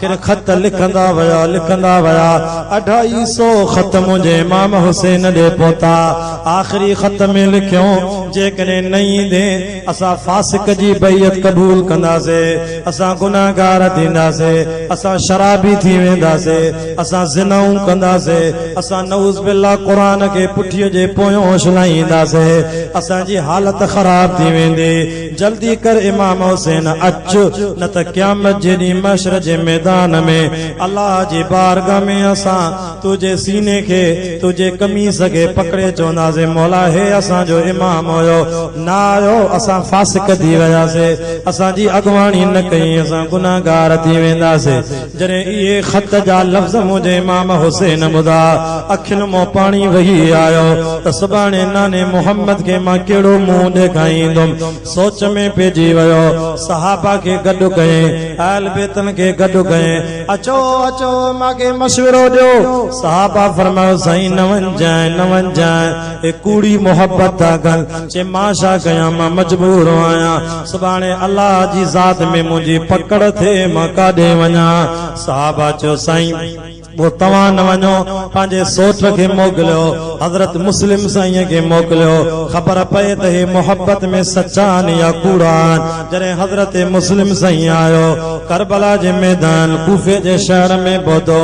کير خط لکندا ويا لکندا ويا اڍائي سو خط منهنجي امام حسين ڏي پهتا آخري خط ۾ لکيون جيڪڏهن نه ايندين اسان فاسق جي بيعت قبول ڪنداسي اسان گنهگار ٿينداسي اسان شرابي ٿي وينداسي اسان زنائون ڪنداسي اسان نعوذ بالله قرآن کي پٺيء جي پويون اڇلائينداسي اسان جي حالت خراب ٿي ويندي. جلدي ڪر امام حسين اچ، نه ته قيامت جي ڏينهن محشر جي ميدان ۾ الله جي بارگاھ ۾ اسان تنهنجي سيني کي، تنهنجي قميص کي پڪڙي چونداسين مولا هي اسان جو امام هيو، نه آيو، اسان فاسق ٿي وياسين، اسان جي اڳواڻي نه ڪئي، اسان گنهگار ٿي وينداسين. جڏهن اهي خط جا لفظ منهنجي امام حسين ٻڌا، اکين مان پاڻي وهي آيو ته سڀاڻي ناني محمد کي مان ڪهڙو منهن ڏيکائيندم. سوچ ۾ پئجي ويو. صحابه کي گڏ ڪيائين، اهل بيتن کي گڏ ڪيائين، اچو اچو مان کي مشورو ڏيو. صحابه فرمايو، سائين نه وڃجانء نه وڃجانء، اهي ڪوڙي محبت ٿا ڪن، چي مان ڇا ڪيان مان مجبور آهيان. سڀاڻي الله جي ذات ۾ منهنجي پڪڙ ٿئي مان ڪاڏي وڃان؟ صحابه چيو سائين! پوء توهان نه وڃو، پنهنجي سوٽ کي موڪليو. حضرت مسلم سائينء کي موڪليو، خبر پئي ته هي محبت ۾ سچا آهن يا ڪوڙا آهن. جڏهن حضرت مسلم سائين آيو، ڪربلا جي ميدان ڪوفي جي شهر ۾ پهتو،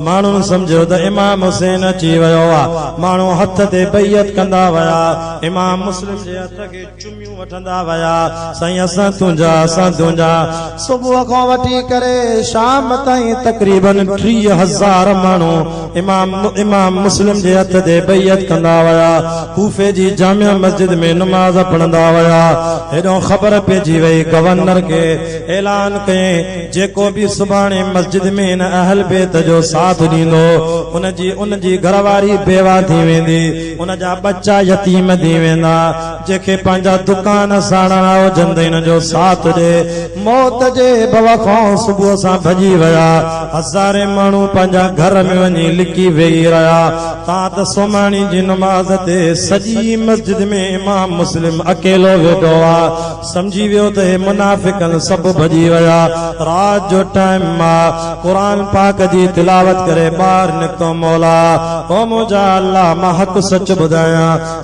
ماڻهن سمجهيو ته امام حسين اچي ويو آهي. ماڻهو هٿ تي بيعت ڪندا ويا، امام مسلم جي هٿ کي چمي. ڪيون وٺندا ويا سائين اسان تنهنجا اسان تنهنجا. صبح کان وٺي ڪري شام تائين تقريباً ٽيهه هزار ماڻهو امام امام مسلم جي هٿ تي بيعت ڪندا ويا. ڪوفي جي جامع مسجد ۾ نماز پڙهندا ويا. هيڏانهن خبر پئجي وئي گورنر کي اعلان ڪيائين جيڪو به سڀاڻي مسجد ۾ هن اهل بيت جو ساٿ ڏيندو ان جي ان جي گهرواري بيواه ٿي ويندي ان جا ٻچا يتيم ٿي ويندا. جنهن کي پنهنجا دڪان ساڙڻا هجن ته هن جو ساٿ ڏي. موت جي ڀؤ کان صبح سان ڀڄي ويا. هزارين ماڻهو پنهنجا گهر ۾ وڃي لڪي ويهي رهيا. تان ته سومهاڻي جي نماز تي سڄي مسجد ۾ امام مسلم اڪيلو ويٺو آ. سمجهي ويو ته هي منافقن سڀ ڀڄي ويا. رات جو ٽائيم آ. قرآن پاڪ جي تلاوت ڪري ٻاهر نڪتو مولا! او منهنجا الله! مان حق سچ ٻڌايان.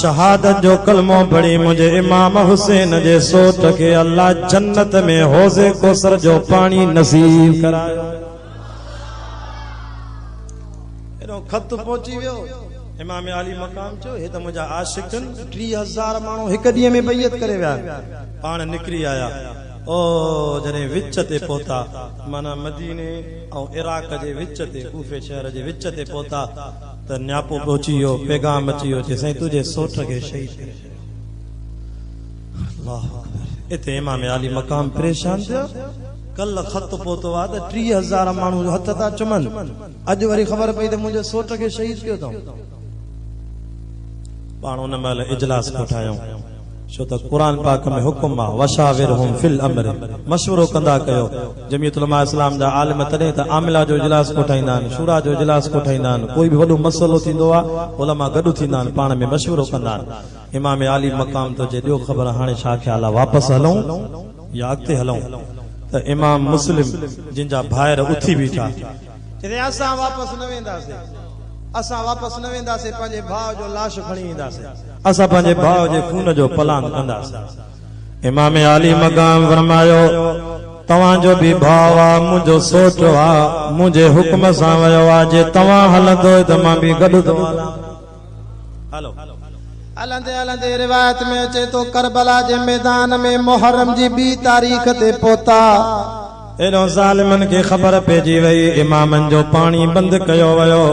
شهادت جو ڪلمو پڙهي منهنجي امام حسين جي سوٽ کي الله جنت ۾ حوض ڪوثر جو پاڻي نصيب ڪرايو. اهڙو خط پهچي ويو امام عالي مقام چيو هي ته منهنجا عاشق آهن ٽي هزار ماڻهو هڪ ڏينهن ۾ بيعت ڪري ويا پاڻ نڪري آيا او جڏهن وچ تي پهتا معنيٰ مديني ۽ عراق جي وچ تي ڪوفي شهر جي وچ تي پهتا ته نياپو پهچي ويو، پيغام اچي ويو چي سائين تنهنجي سوٽ کي شهيد ڪري ڇڏيو. الله اڪبر اتي امام عالي مقام پريشان ٿيا ڪل خط پهتو آ ته ٽيهه هزار ماڻهو هٿ ٿا چمن اڄ وري خبر پئي ته منهنجي سوٽ کي شهيد ڪيو اٿئون. پاڻ ان مهل اجلاس ڪوٺايائون. ڇو ته قرآن پاڪ ۾ حڪم آ، وشاورهم في الامر، مشورو ڪندا ڪيو. جمعيت علماء اسلام جا عالم تڏهن ته عاملا جو اجلاس ڪوٺائيندا آهن، شورا جو اجلاس ڪوٺائيندا آهن، ڪوئي به وڏو مسئلو ٿيندو آ، علماء گڏ ٿيندا آهن، پاڻ ۾ مشورو ڪندا آهن. امام عالي مقام تو چي ڏيو خبر هاڻي ڇا خيال آ، واپس هلون يا اڳتي هلون؟ ته امام مسلم جن جا ڀائر اٿي بيٺا. چيائين اسان واپس نه وينداسين. اسان واپس نه وينداسين پنهنجي ڀاء جو لاش کڻي اينداسين. اسان پنهنجي ڀاء جي خون جو پلانگ ڪنداسين. امام عالي مقام فرمايو توهان جو به ڀاء آ منهنجو سوٽو آ منهنجي حڪم سان ويو آ جي توهان هلندو ته مان به گڏ ٿو هلان. هلندي هلندي روايت ۾ اچي ٿو ڪربلا جي ميدان ۾ محرم جي ٻي تاريخ تي پهتا. ايڏهو ظالمن کي خبر پئجي وئي امامن جو پاڻي بند ڪيو ويو.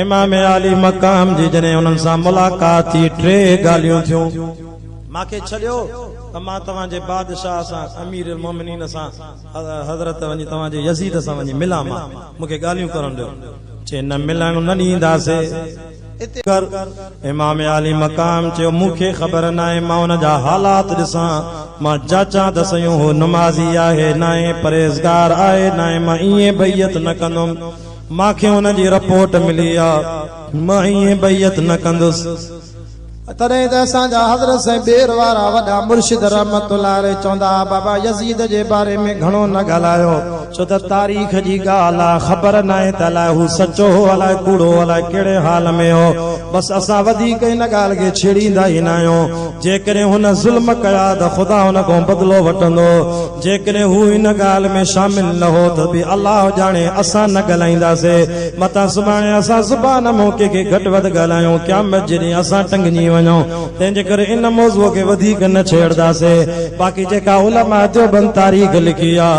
امام عالي مقام جي جڏهن انهن سان ملاقات ٿي ٽي ڳالهيون ٿيون. ماکي ڇڏيو ته مان توهان جي بادشاهه سان امير المومنين سان. حضرت وڃي توهان جي يزيد سان وڃي ملان مان مون کي ڳالهيون ڪرڻ ڏيو. چي نه ملڻ نه ڏينداسي اتي ڪر. امام عالي مقام چيو مون کي خبر ناهي مان ان جا حالات ڏسان مان جاچان ته سيون هو نمازي آهي ناهي پرهيزگار آهي ناهي مان ائين بيعت نه ڪندم مان کي ان جي رپورٽ ملي آ مان ائين بيعت نه ڪندس. تڏهن ته اسان جا حضرت سائين ٻير وارا وڏا مرشد رحمت الله عليه چوندا ها بابا يزيد جي باري ۾ گهڻو نه ڳالهايو ڇو ته تاريخ جي ڳالهه آ خبر ناهي ته الاء هو سچو هو الاء ڪوڙو هو الاء ڪهڙي حال ۾ هو بس اسان وڌيڪ ان ڳالهه کي ڇيڙيندا ئي ناهيون جيڪڏهن هن ظلم ڪيا ته خدا هن کان بدلو وٺندو جيڪڏهن هو ان ڳالهه ۾ شامل نه هو ته به الله ڄاڻي اسان نه ڳالهائينداسي، متان سڀاڻي اسان زبان مون ڪنهن کي گهٽ وڌ ڳالهايون، قيامت جي ڏينهن اسان ٽنگنجي وڃون، تنهن جي ڪري ان موضوع کي وڌيڪ نه ڇيڙداسي. باقي جيڪا علماء ديوبند تاريخ لکي آ،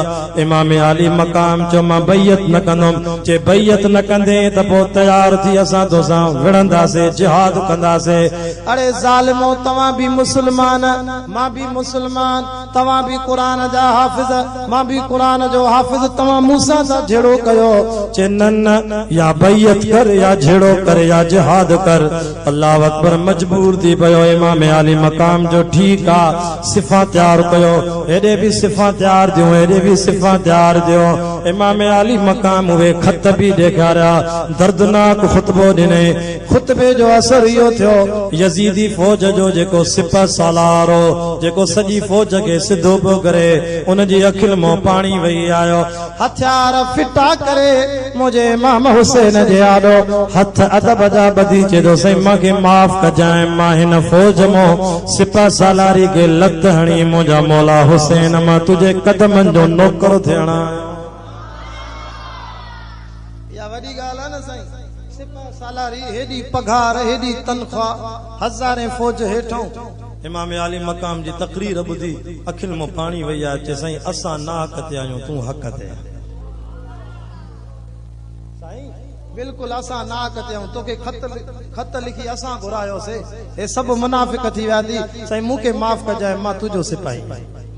امام عالي مقام چيو مان بيعت نه ڪندم، جي بيعت نه ڪندين ته پوء تيار ٿي اسان توسان وڙهنداسي، جهاد ڪنداسي. اڙي ظالمو توهان به مسلمان مان به مسلمان. توهان به قرآن جا حافظ، مان به قرآن جو حافظ، توهان مون سان ڇا جھيڙو ڪيو؟ چي نه نه، يا بيعت ڪر يا جھيڙو ڪر يا جهاد ڪر. الله اڪبر مجبور ٿي پيو امام عالي مقام جو ٺيڪ آ صفان تيار ڪيو، هيڏي به صفان تيار ٿيون هيڏي به صفان تيار ٿيون، امام عالي مقام اهي خط به ڏيکاريا، دردناڪ خطبو ڏنائين. خطبي جو اثر اهو ٿيو، يزيدي فوج جو جيڪو سپه سالار هو، جيڪو سڄي فوج کي سڌو پيو ڪري، ان جي اکين مان پاڻي وهي آيو. هٿيار ڦٽا ڪري منهنجي امام حسين جي آڏو هٿ ادب جا ٻڌي چئي ٿو، سائين مان کي معاف ڪجانء، مان هن فوج مان سپه سالاري کي لت هڻي منهنجا مولا حسين مان تنهنجي قدمن جو نوڪر ٿيڻ آيو آهيان. اها وڏي ڳالهه آهي نه سائين. سپهه سالاري، هيڏي پگهار، هيڏي تنخواه، هزارين فوج هيٺئون. امام عالي مقام جي تقرير ٻڌي اکين مان پاڻي وهي آيو، چي سائين اسان ناحق تي آهيون، تون حق تي آهين. سائين بلڪل اسان ناحق تي آهيون، توکي خط لکي اسان گهرايو سي، هي سڀ منافق ٿي ويا ٿي، سائين مون کي معاف ڪجانء، مان تنهنجو سپاهي آهيان.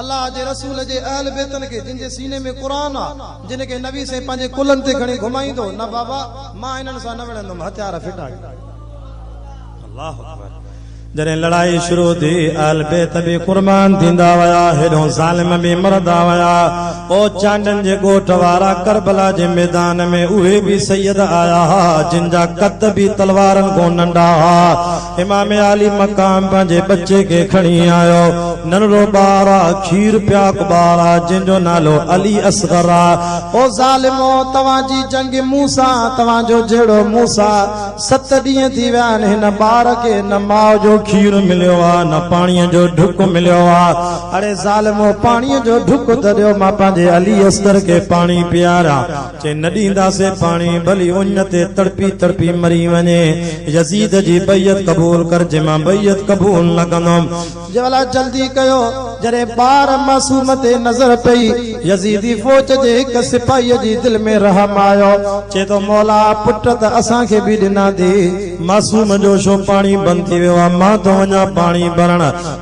الله جي رسول جي اهل بيتن کي جن جي سيني ۾ قرآن آ جن کي نبي سائين پنهنجي ڪلهن تي کڻي گهمائيندو نه بابا مان انهن سان نه وڙهندم هٿيار ڦٽائي الله اڪبر جڏهن لڙائي شروع ٿي اهل بيت به قربان ٿيندا ويا هيڏون ظالم به مردا ويا او چانڊن جي ڳوٺ وارا ڪربلا جي ميدان ۾ اهي به سيد آيا ها جن جا قد به تلوارن کان ننڍا ها امام عالي مقام پنهنجي ٻچي کي کڻي آيو. ننڍڙو ٻار آ، کير پياڪ ٻار آ، جنهن جو نالو علي اصغر آ. او ظالمو! توهان جي جنگ مون سان، توهان جو جهيڙو مون سان. ست ڏينهن ٿي ويا آهن، هن ٻار کي نه ماء جو کير مليو آ، نه پاڻيء جو ڍڪ مليو آ. اڙي ظالمو! پاڻيء جو ڍڪ ته ڏيو، مان پنهنجي علي اصغر کي پاڻي پياريان. چي نه ڏينداسين پاڻي، ڀلي اڃ تي تڙپي تڙپي مري وڃي، يزيد جي بيعت قبول ڪر، جي مان بيعت قبول نه ڪندم. جبلا جلدي ڪيو، جڏهن ٻار معصوم تي نظر پئي، يزيدي فوج جي هڪ سپاهيء جي دل ۾ رحم آيو، چئي ٿو، مولا! پٽ ته اسان کي به ڏناٿي. معصوم جو ڇو پاڻي بند ٿي ويو آهي، مان ٿو وڃان پاڻي ڀرڻ.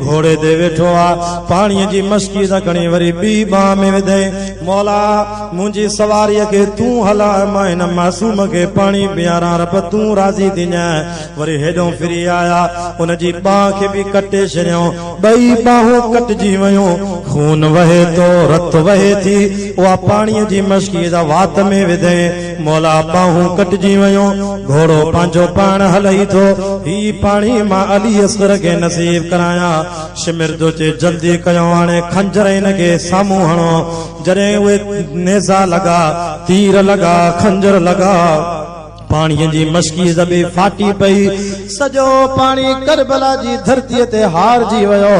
گهوڙي تي ويٺو آ، پاڻيء جي مشڪي سان کڻي وري ٻي ٻانهن ۾ وڌئي، مولا! منهنجي سواريء کي تون هلاء، مان هن معصوم کي پاڻي پياران، رب تون راضي ٿينء. وري هيڏهون ڦري آيا، ان جي ٻانهن کي به ڪٽي ڇڏيائون، ٻئي ٻانهون ڪٽجي ويون، خون وهي ٿو، رت وهي ٿي، اها پاڻيء جي مشڪي سان وات ۾ وڌئي. مولا ٻانهون ڪٽجي ويون، گهوڙو پنهنجو پاڻ هلئي ٿو، هي پاڻي مان علي اصغر کي نصيب ڪرايان. شمر جو چي جلدي ڪيو هاڻي خنجر هن کي سامهون هڻو. جڏهن اهي نيزا لڳا، تير لڳا، خنجر لڳا. پاڻيء جي مشڪي زبي ڦاٽي پئي. سڄو پاڻي ڪربلا جي ڌرتيء تي هارجي ويو،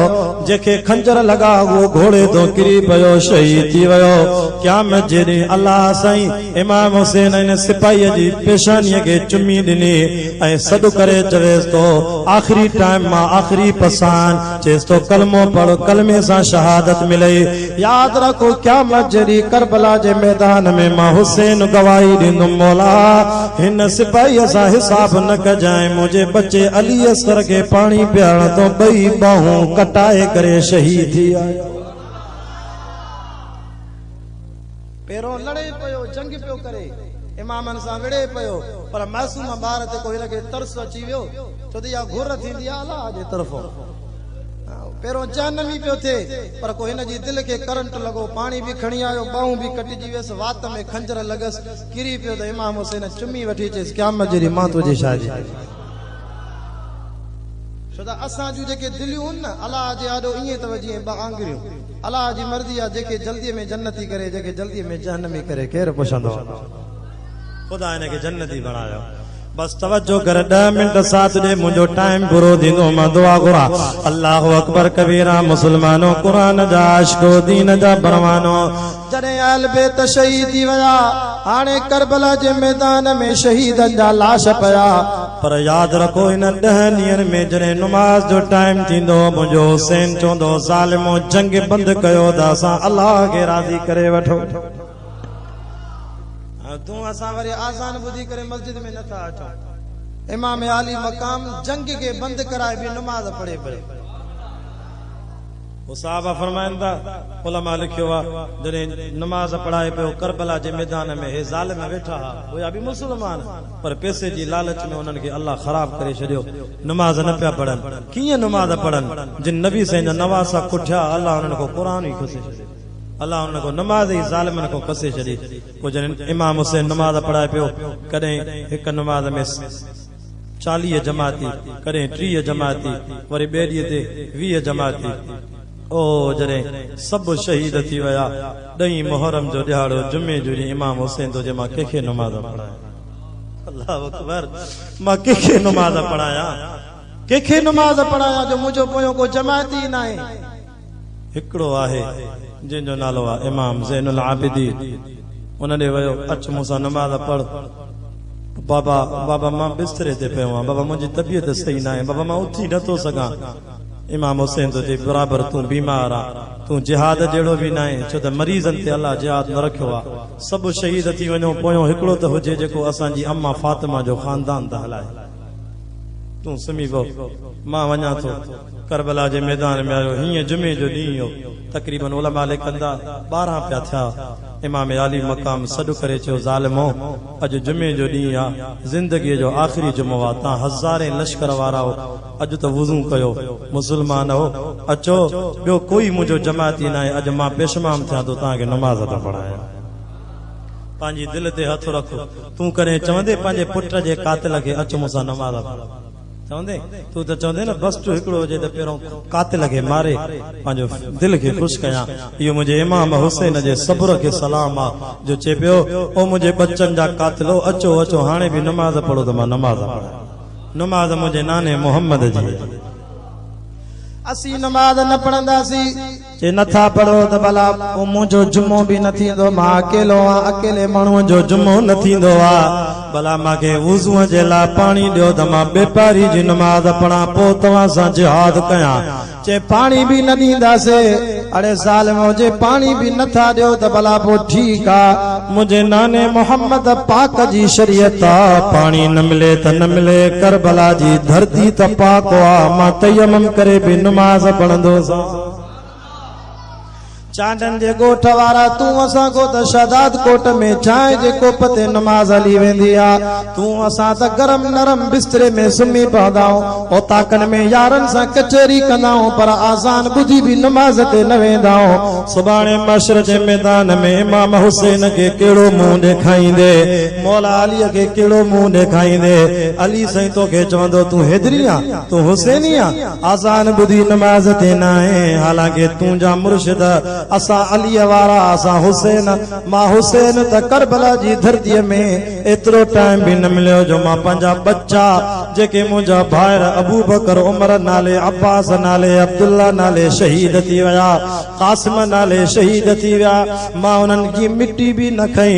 جنهن کي خنجر لڳا اهو گهوڙي تان ڪري پيو شهيد ٿي ويو. قيامت جي ڏينهن الله سائين امام حسين ان سپاهيء جي پيشانيء کي چمي ڏني ۽ سڏ ڪري چويس ٿو آخري ٽائيم مان آخري پساهه چيس ٿو ڪلمو پڙهه ڪلمي سان شهادت ملئي. ياد رکو قيامت جي ڏينهن ڪربلا جي ميدان ۾ مان حسين گواهي ڏيندم مولا هن سپاهيء سان حساب نه ڪجانء منهنجي ٻچي علي اصغر کي پاڻي پيارڻ تون ٻئي ٻانهون ڪٽائي ڪري شهيد ٿي آيو. پيرون لڙي پيو جنگ پيو ڪري امامن سان وڙهي پيو پر معصوم ٻار تي ڪو هن کي ترس اچي ويو ڇو ته اها گهر ٿيندي آهي الله جي طرفون. پهريون چين نمي پيو ٿئي، پر ڪو هن جي دل کي ڪرنٽ لڳو، پاڻي به کڻي آيو، ٻانهون به ڪٽجي ويس، وات ۾ خنجر لڳس، ڪري پيو ته امام حسين چمي وٺي چيس، قيامت جي ڏينهن مان تنهنجي شاهدي. ڇو ته اسان جون جيڪي دليون هن نه، الله جي آڏو ائين اٿو جيئن ٻه آڱريون. الله جي مرضي آ، جيڪي جلديء ۾ جنتي ڪري، جيڪي جلديء ۾ جهنمي ڪري، ڪير پڇندو؟ خدا هن کي جنتي بڻايو. بس توجه ڪر ڏهه منٽ ساٿ ڏي منهنجو ٽائيم پورو ٿيندو مان دعا گهران الله اڪبر ڪبيرا مسلمانو قرآن جا عاشقو دين جا پروانو. جڏهن اهل بيت شهيد ٿي ويا هاڻي ڪربلا جي ميدان ۾ شهيدن جا لاش پيا پر ياد رکو انهن ڏهن ڏينهن ۾ جڏهن نماز جو ٽائيم ٿيندو منهنجو حسين چوندو ظالمو جنگ بند ڪيو ته اسان الله کي راضي ڪري وٺو. تون اسان وري آذان ٻڌي ڪري مسجد ۾ نٿا اچون امام عالي مقام جنگ کي بند ڪرائي به نماز پڙهي پيو هو صحابه فرمائن ٿا علماء لکيو آ جڏهن نماز پڙهائي پيو ڪربلا جي ميدان ۾ هي ظالم ويٺا ها هيا به مسلمان پر پيسي جي لالچ ۾ انهن کي الله خراب ڪري ڇڏيو نماز نه پيا پڙهن ڪيئن نماز پڙهن جن نبي سائين جا نواسا ڪٺيا الله انهن کان قرآن ئي کسي ڇڏيو. الله انهن کان نماز ئي ظالمن کان پسي ڇڏي. پوء جڏهن امام حسين نماز پڙهائي پيو، ڪڏهن هڪ نماز ۾ چاليهه جماعتي، ڪڏهن ٽيهه جماعتي، وري ٻئي ڏينهن تي ويهه جماعتي. او هو جڏهن سڀ شهيد ٿي ويا، ڏهين محرم جو ڏهاڙو، جمعي جو ڏينهن امام حسين ٿو چئي مان ڪنهن کي نماز پڙهايان؟ الله اڪبر! مان ڪنهن کي نماز پڙهايان؟ ڪنهن کي نماز پڙهايان جو منهنجو پويان ڪو جماعتي ئي ناهي؟ هڪڙو آهي جنهن جو نالو آهي امام زين العابدين ان ڏي ويو اچ مون سان نماز پڙهه بابا بابا مان بستري تي پيو آهيان بابا منهنجي طبيعت صحيح ناهي بابا مان اٿي نٿو سگهان امام حسين ٿو چئي برابر تون بيمار آ تون جهاد جهڙو به ناهين ڇو ته مريضن تي الله جهاد نه رکيو آ سڀ شهيد ٿي وڃو پويون هڪڙو ته هجي جيڪو اسان جي اما فاطمه جو خاندان ته هلائي. تون سمهي پو، مان وڃان ٿو. ڪربلا جي ميدان ۾ آيو. هينئن جمعي جو ڏينهن هو. تقريباً علماء ليکن ٿا، ٻارهن پيا ٿيا. امام علي مقام سڏ ڪري چيو، ظالمؤ! اڄ جمعي جو ڏينهن آ. زندگيء جو آخري جمعو آ. توهان هزارين لشڪر وارائو، اڄ ته وضو ڪيو. مسلمانؤ! اچو، ٻيو ڪوئي منهنجو جماعتي ناهي. اڄ مان پيشمام ٿيان ٿو توهان کي نماز ٿو پڙهايان. پنهنجي دل تي هٿ رکو. تون ڪڏهن چوندين پنهنجي پٽ جي قاتل کي اچ مون سان نماز پڙهه چوندين؟ تون ته چوندين نه بس جو هڪڙو هجي ته پهريون قاتل کي ماري پنهنجو دل کي خوش ڪيان. اهو منهنجي امام حسين جي صبر کي سلام آ جو چئي پيو او منهنجي ٻچن جا قاتلو اچو اچو هاڻي به نماز پڙهو ته مان نماز پڙهان. نماز منهنجي ناني محمد جي. اسين نماز نه پڙهنداسين. چي نٿا پڙهو ته ڀلا پوء منهنجو جمعو به نه ٿيندو، مان اڪيلو آهيان، اڪيلي ماڻهوء جو جمعو نه ٿيندو آ، ڀلا مان کي وضوء جي لاء پاڻي ڏيو ته مان ٻي پهري جي نماز پڙهان پوء توهان سان جهاد ڪيان، چي پاڻي به نه ڏينداسين، اڙي ظالمؤ جي پاڻي به نٿا ڏيو ته ڀلا پوء ٺيڪ آ، منهنجي ناني محمد پاڪ جي شريعت تان پاڻي نه ملي ته نه ملي، ڪربلا جي ڌرتي ته پاڪ آ، مان تيمم ڪري به نماز پڙهندوسان. چانڊن جي ڳوٺ وارا تون اسان ڪو ته شهداد ڪوٽ ۾ چانهه جي ڪوپ تي نماز هلي ويندي آ تون اسان ته گرم نرم بستري ۾ سمهي پوندائون اوطاقن ۾ يارن سان ڪچهري ڪندائون پر آذان ٻڌي به نماز تي نه ويندائون سڀاڻي محشر جي ميدان ۾ امام حسين کي ڪهڙو منهن ڏيکائيندي مولا علي کي ڪهڙو منهن ڏيکائيندي علي سائين توکي چوندو تون حيدري آ تون حسيني آ. آذان ٻڌي نماز تي نه آئين حالانڪه تون جا مرشد اسان علي وارا اسان حسين مان حسين ته ڪربلا جي ڌرتي ۾ ايترو ٽائيم به نه مليو جو مان پنهنجا ٻچا جيڪي منهنجا ڀائر ابوبڪر عمر نالي عباس نالي عبدالله نالي شهيد ٿي ويا قاسم نالي شهيد ٿي ويا مان انهن جي مٽي به نه کئي.